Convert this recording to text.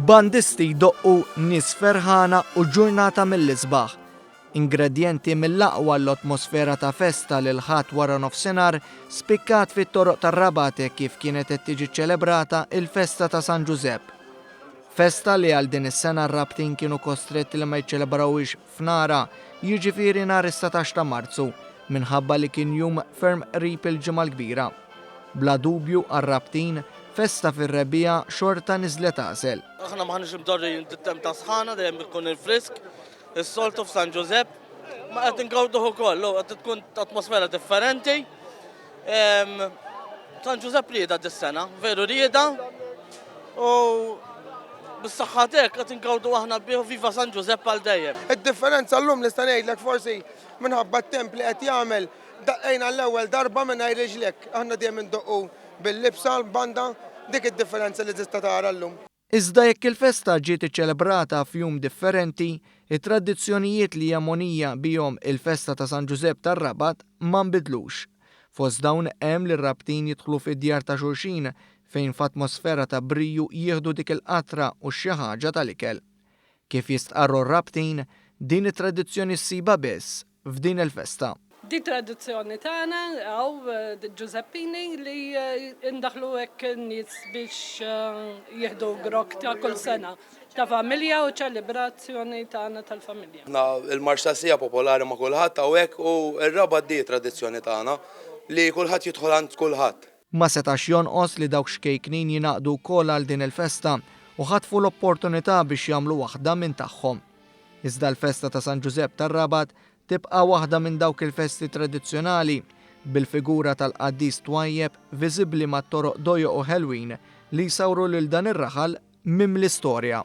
Bandisti jdoqqu, nies ferħana u ġurnata mill-isbaħ. Ingredjenti mill-aqwa għall-otmosfera ta' festa l-Ħadd wara nofsinhar spikkat fit-toroq tar-Rabat hekk kif kienet qed tiġi ċċelebrata l-festa ta' San Ġużepp. Festa li għal din is-sena r-Rabtin kienu kostretti li ma jiċċelebrawhiex f'nara, jiġifieri nhar is-setax ta' Marzu, minħabba li kien jum ferm qrib il-Ġimgħa l-Kbira. Bla dubju għar-Rabtin, festa fir-rebbiegħa xorta niżlet għasel. Aħna m'aħniex imdorrijin bit-temp tas-sħana, dejjem ikun il-frisk, is-soltu f'San Ġużepp, ma qed ingawduh ukoll, qed tkun atmosfera differenti. San Ġużepp rieda dis-sena, veru rieda u bis-saħħa dek qed ingawdu aħna bih viva San Ġużepp għal dejjem. Id-differenza llum nista' ngħidlek forsi minħabba t-temp li qed jagħmel daqqejna l-ewwel darba mingħajr riġlek. Aħna dejjem indoqqu bil-libsa l-banda, dik id-differenza li tista' tara llum. Iżda jekk il-festa ġiet iċċelebrata f'jum differenti, it-tradizzjonijiet li hija mogħnija bihom il-festa ta' San Ġużepp tar-Rabat ma nbidlux. Fost dawn hemm li r-Rabtin jidħlu fid-djar ta' xulxin fejn f'atmosfera ta' briju jieħdu dik il-qatra u xi ħaġa tal-ikel. Kif jistqarru r-Rabtin, din it-tradizzjoni ssibha biss f'din il-festa. Di tradizzjoni tagħna hawn Ġużeppini li ndaħħlu hekk in-nies biex jieħdu grokk ta' kull sena ta' familja u ċelebrazzjoni tagħna tal-familja. Aħna l-marċ tas-siegħa popolari ma' kulħadd hawnhekk u r-Rabat di tradizzjoni tagħna li kulħadd jidħol għand kulħadd. Ma setax jonqos li dawk xkejknin jingħaqdu wkoll għal din il-festa u ħatfu l-opportunità biex jagħmlu waħda minn tagħhom. Iżda l-festa ta' San Ġużepp tar-Rabat tibqa' waħda minn dawk il-festi tradizzjonali, bil-figura tal-qaddis twajjeb viżibbli mat-toroq dojoq u ħelwin li jsawru lil dan ir-raħal mimli storja.